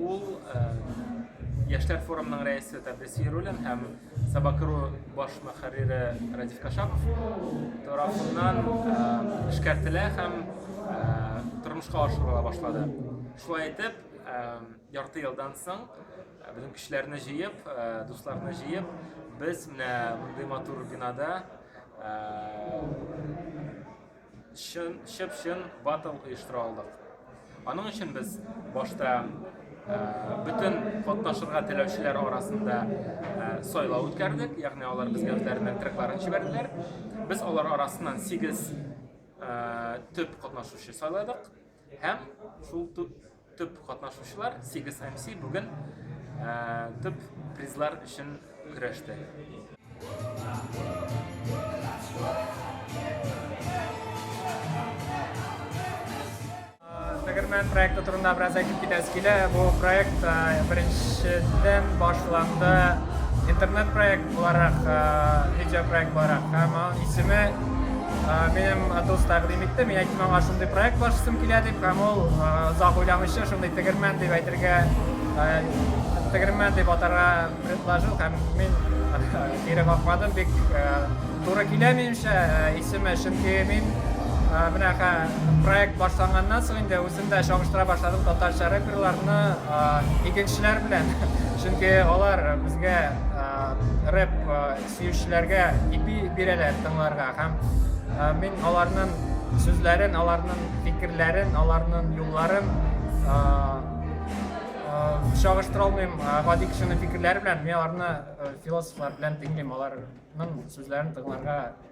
Ул яшьләр форумының рәисе Тәбрис Ярулин һәм Сабакыру баш мөхәррире Радиф Кашапов тарафыннан эшкәртелә һәм тормышка ашырыла башлады. Шулай итеп, ярты елдан соң безнең кешеләрне җыеп, дусларны җыеп, без менә мондый матур бинада Чын, чып-чын батл оештыра алдык. Аның өчен без башта Э, бөтен катнашырга теләүчеләр арасында э, сайлау үткәрдек ягъни алар безгә үзләренең трекларын җибәрделәр без алар арасыннан сигез э, төп катнашучы сайладык Һәм шул төп катнашучылар 8 MC бүген төп призлар өчен көрәште. Тегермән проекты турында бераз әйтеп китәсе килә. Бу проект беренчедән башланды интернет проект буларак, видеопроект буларак. Һәм аның исеме Минем дус тәкъдим итте, мин әйттем аңа шундый проект башысым килә дип, һәм ул озак уйламыйча шундый тегермән дип әйтергә, тегермән дип атарга предложил һәм мин кире какмадым, бик туры килә минемчә исеме, чөнки мин менә проект башланганнан соң инде үзем дә чагыштыра башладым татарча рэперларны игенчеләр белән чөнки алар безгә рэп Сөючеләргә ипи бирәләр тыңларга һәм мин аларның сүзләрен, аларның фикерләрен, аларның юлларын чагыштыра алмыйм. Гади кешенең фикерләре белән мин аларны философлар белән тыңлыйм, аларның сүзләрен тыңларга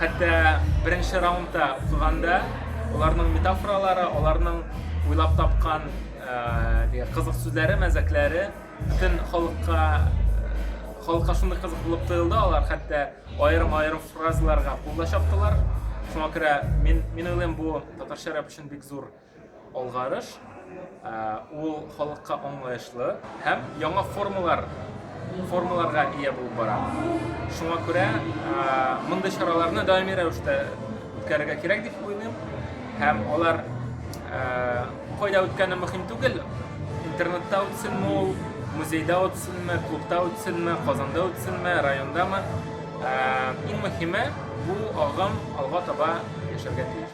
Хәтта беренче раундта укыганда, аларның метафоралары, аларның уйлап тапкан ә, кызык сүзләре, мәзәкләре бөтен халыкка халыкка шундый кызык булып тоелды, алар хәтта аерым-аерым фразаларга кулда чаптылар. Шуңа күрә мин, мин уйлыйм, бу татарча рэп өчен бик зур Алгарыш ул халыкка аңлаешлы һәм яңа формалар формаларга ия булып бара. Шуңа күрә мондый чараларны даими рәвештә үткәрергә кирәк дип уйлыйм. Һәм алар кайда үткәне мөһим түгел. Интернетта үтсенме ул, музейда үтсенме, клубта үтсенме, Казанда үтсенме, райондамы. Иң мөһиме бу агым алга таба яшәргә тиеш.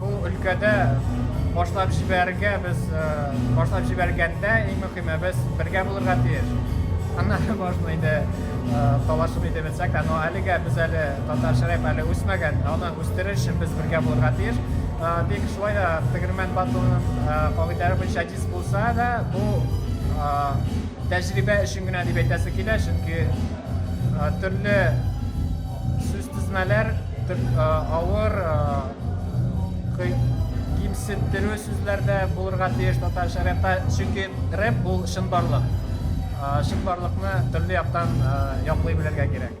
Бу өлкәдә башлап җибәрергә без башлап җибәргәндә иң мөһиме без бергә булырга тиеш. Аннары можно инде талашып инде белсәк тә, но әлегә без әле татарча рэп әле үсмәгән, аны үстерер өчен без бергә булырга тиеш. Тик шулай да Тегермән батлының кагыйдәләре буенча диск булса да, бу тәҗрибә өчен генә дип әйтәсе килә, чөнки төрле сүз тезмәләр авыр кимсендерү сүзләр дә булырга тиеш татарча рэпта, чөнки рэп ул чынбарлык. Чынбарлыкны төрле яктан яклый белергә кирәк.